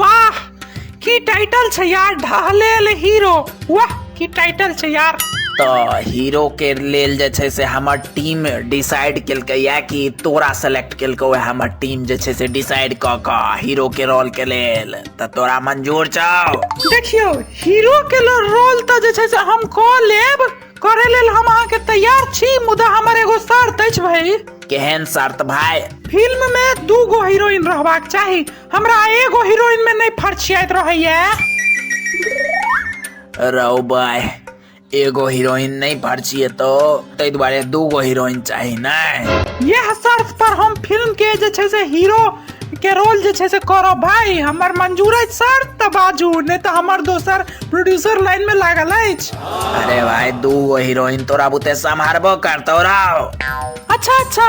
वाह की टाइटल छै यार ढहलेल हीरो वाह की टाइटल छै यार तऽ हीरो के लेल जे छै से हमर टीम डिसाइड केलकै या कि तोरा सेलेक्ट केलकौ या हमर टीम जे छै से डिसाइड कऽ कऽ हीरो के रोल के लेल तऽ तोरा मंजूर छौ देखियौ हीरो के लेल रोल तऽ जे छै से हम कऽ लेब करे लेल हम अहाँके तैयार छी मुदा हमर एगो शर्त अछि भाई केहन शर्त भाय फिल्म में दू गो हीरोइन रहबाक चाही हमरा एगो हीरोइन में नहीं फरछियात रहैया रौ बाय एगो हीरोइन नहीं फरछिए तो ताहि दुआरे दूगो हीरोइन चाही नहीं यह शर्त पर हम फिल्म के जे छै से हीरो के रोल जे छै से करो भाई हमर मंजूर है शर्त त बाजू नहीं तो हमर दोसर प्रोड्यूसर लाइन में लागल अछि अरे भाई दूगो हीरोइन तोरा बुते संभारबो करतो रौ अच्छा अच्छा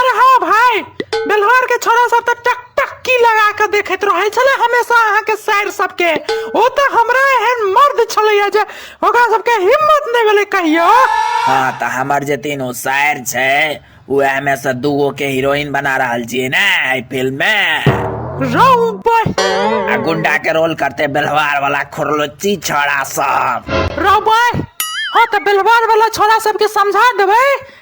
अरे हाँ भाई बेलहर के छोरा सब तऽ टक टक्की लगा के देखैत रहै छले हमेशा अहाँ के साइर सब के ओ तऽ हमरा एहन मर्द छलैया जे ओकरा सब के हिम्मत नहि भेलै कहियो हाँ तऽ हमर जे तीनू शायर छै उएह में से दूगो के हीरोइन बना रहल छियै ने एहि फिल्म में रौ बहि आ गुंडा के रोल करते बेलवार वाला खुरलुच्ची छोड़ा सब रौ बहि हाँ तऽ बेलवार वाला छोरा सब के समझा देबै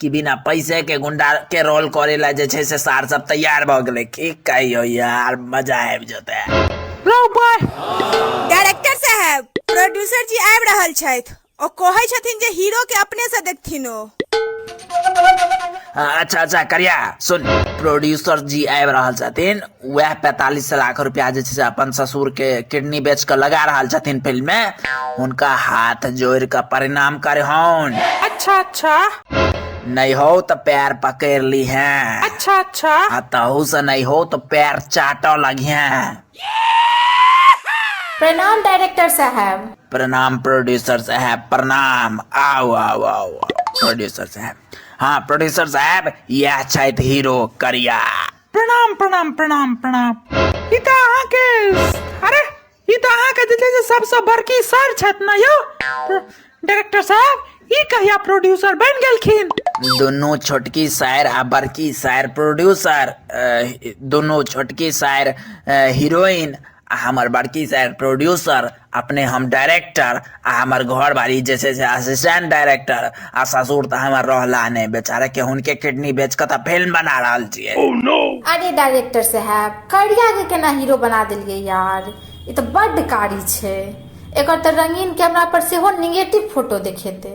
कि बिना पैसेके गुण्डाके रोल करै लए जे छै से सार सब तैयार भऽ गेलै की कहियौ यार मजा आबि जेतै डायरेक्टर साहब प्रोड्यूसर जी आबि रहल छथि ओ कहै छथिन जे हीरो के अपने से देखथिन ओ हाँ, अच्छा अच्छा करिया सुन प्रोड्यूसर जी आबि रहल छथिन उएह पैंतालिस लाख रुपैआ जे छै से अपन ससुरके किडनी बेच कऽ लगा रहल छथिन फिल्ममे हुनका हाथ जोड़ि कऽ परिणाम करहन अच्छा अच्छा नहि हो तऽ पैर पकड़ि लिहे अच्छा अच्छा आ तहू से नहि हो तऽ पैर चाटऽ लगिहे प्रणाम डायरेक्टर साहब प्रणाम प्रोड्यूसर साहब प्रणाम आओ आओ आओ प्रोड्यूसर साहब हाँ प्रोड्यूसर साहब यह छथि हीरो करिया प्रणाम प्रणाम प्रणाम प्रणाम ई तऽ अहाँके अरे ई तऽ अहाँके जे छै से सबसँ बड़की सर छथि ने यौ डायरेक्टर साहब ई कहिया प्रोड्यूसर बनि गेलखिन दुनू छोटकी सायर आ बड़की सायर प्रोड्यूसर अ, दुनू छोटकी सायर अ, हीरोइन आ हमर बड़की सर प्रोड्यूसर अपने हम डायरेक्टर आ हमर घर वाली जे छै से असिस्टेंट डायरेक्टर आ ससुर तऽ हमर रहला नहि बेचारा के हुनके किडनी बेच कऽ तऽ फिल्म बना रहल छियै अरे डायरेक्टर साहब करिया के केना हीरो बना देलियै यार ई तऽ बड्ड कारी छै एकर तऽ रंगीन कैमरा पर सेहो निगेटिव फोटो देखेतै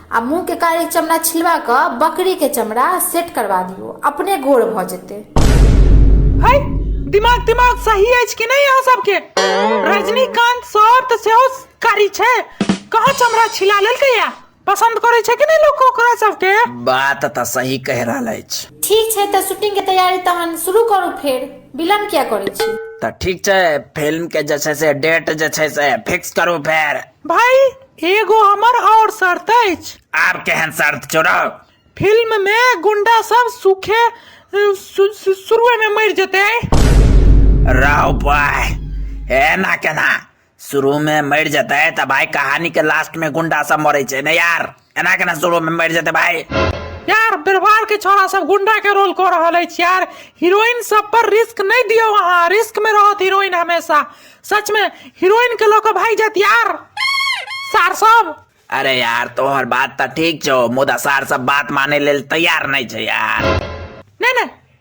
आ मुंह के कारी चमड़ा छिलवा क बकरी के चमड़ा सेट करवा दियो अपने गोर भ जेते है दिमाग दिमाग सही अछि कि नहीं यहाँ सबके रजनीकांत सर तऽ सेहो कारी छै कहाँ चमड़ा छिला लेलकै या पसंद करे छै कि नहीं लोग ओकरा सबके बात तऽ सही कह रहल अछि ठीक छै तऽ शूटिंग के तैयारी तहन शुरू करू फेर विलम्ब किया करै छी तऽ ठीक छै फिल्म के जे छै से डेट जे छै से फिक्स करू फेर भाई एगो हमर और शर्त अछि आब केहन शर्त छोड़ो फिल्म मे गुंडा सब सूखे सु- सु- शुरुए में मर जेते राव भाई एना केना शुरू में मर जेतै तऽ भाई कहानी के लास्ट में गुंडा सब मरै छै ने यार एना केना शुरू में मर जेते भाई यार बिरवार के छोरा सब गुंडा के रोल कर रहल अछि यार हीरोइन सब पर रिस्क नहीं दियो वहाँ रिस्क में रहत हीरोइन हमेशा सच में हीरोइन के लोग भाई जात यार सार सब अरे यार तोहर बात तो ठीक छो मुदा सार सब बात माने लेल तैयार नहीं छे यार नहीं नहीं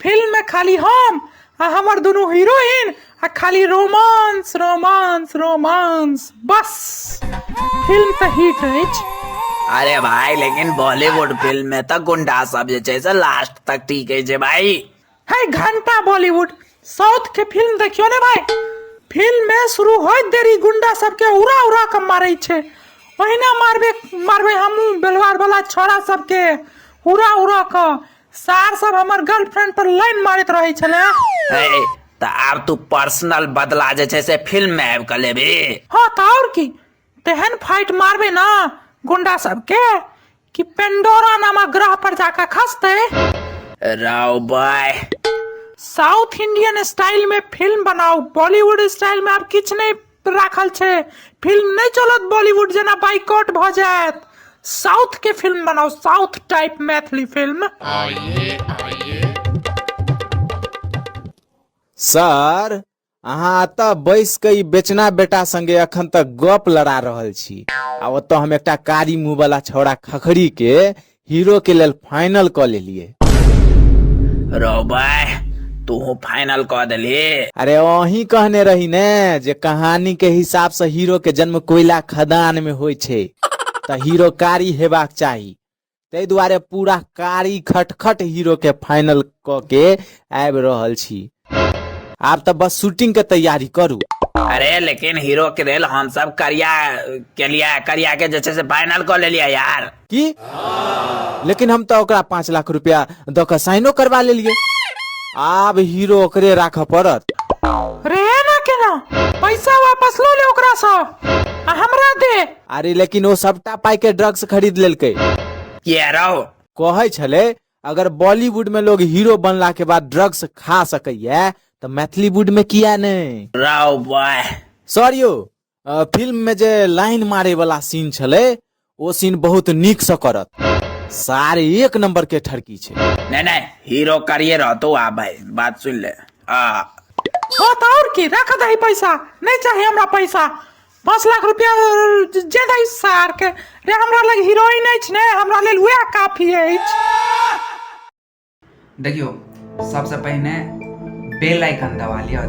फिल्म में खाली हम आ हमर दुनू हीरोइन आ खाली रोमांस रोमांस रोमांस बस फिल्म तऽ हिट अछि अरे भाई लेकिन बॉलीवुड फिल्म में तो गुंडा सब जे छै से लास्ट तक ठीक है जे भाई है घंटा बॉलीवुड साउथ के फिल्म देखियो ने भाई फिल्म में शुरू होइत देरी गुंडा सबके उड़ा उड़ा के मारे छे ओहिना मारबे मारबे हमू बेलवार वाला छोरा सबके उड़ा उड़ा के सार सब हमर गर्लफ्रेंड पर लाइन मारैत रहै छले ए, तऽ आब तू पर्सनल बदला जे छै से फिल्म में आबि कऽ लेबी हाँ तऽ और की तेहन फाइट मारबे ना गुंडा सबके कि पेंडोरा नामक ग्रह पर जाकर खसते राव बाय साउथ इंडियन स्टाइल में फिल्म बनाओ बॉलीवुड स्टाइल में आप किछ नहीं राखल छै फिल्म नहि चलत बॉलीवुड जेना बाइकआउट भऽ जायत साउथ के फिल्म बनाओ south type Maithili film sir अहाँ एतऽ बैस के ई बेचना बेटा संगे अखन तक गप लड़ा रहल छी आ ओतऽ हम एकटा कारी मुंह वाला छौड़ा खखरी के हीरो के लेल फाइनल कऽ लेलिए रो बाय तू फाइनल कऽ देली अरे अही कहने रही ने जे कहानी के हिसाब से हीरो के जन्म कोयला खदान में होइ छै तऽ हीरो कारी हेबाक चाही ताहि दुआरे पूरा कारी खटखट हीरो के फाइनल कऽ के आबि रहल छी आब तऽ बस शूटिंग के तैयारी करू अरे लेकिन हीरो के लेल हम सब करिया के लिए करिया के जे छै से फाइनल कऽ लेलियै यार की लेकिन हम तऽ ओकरा पाँच लाख रुपया दऽ कऽ साइनो करवा लेलियै आब हीरो ओकरे राखऽ पड़त रे ना केना पैसा वापस लो ले ओकरा सा आ हमरा दे अरे लेकिन ओ सबटा पाई के ड्रग्स खरीद लेलकै किया रहो कहै छलै अगर बॉलीवुड में लोग हीरो बनला के बाद ड्रग्स खा सकैया तऽ मैथिलीवुड में किया नहि राव बॉय सर यौ अ, फिल्म में जे लाइन मारे वाला सीन छलै ओ सीन बहुत नीक से करत सार एक नंबर के ठरकी छै नहि नहि हीरो करिए रहतो आ भाई बात सुन ले आ हाँ तऽ और की रख दही पैसा नहीं चाहिए हमरा पैसा पाँच लाख रुपया जे दै सारके रे हमरा लग हीरोइन अछि ने हमरा लेल उएह काफी अछि देखियो सबसे पहिने बेल आइकन दबा लिया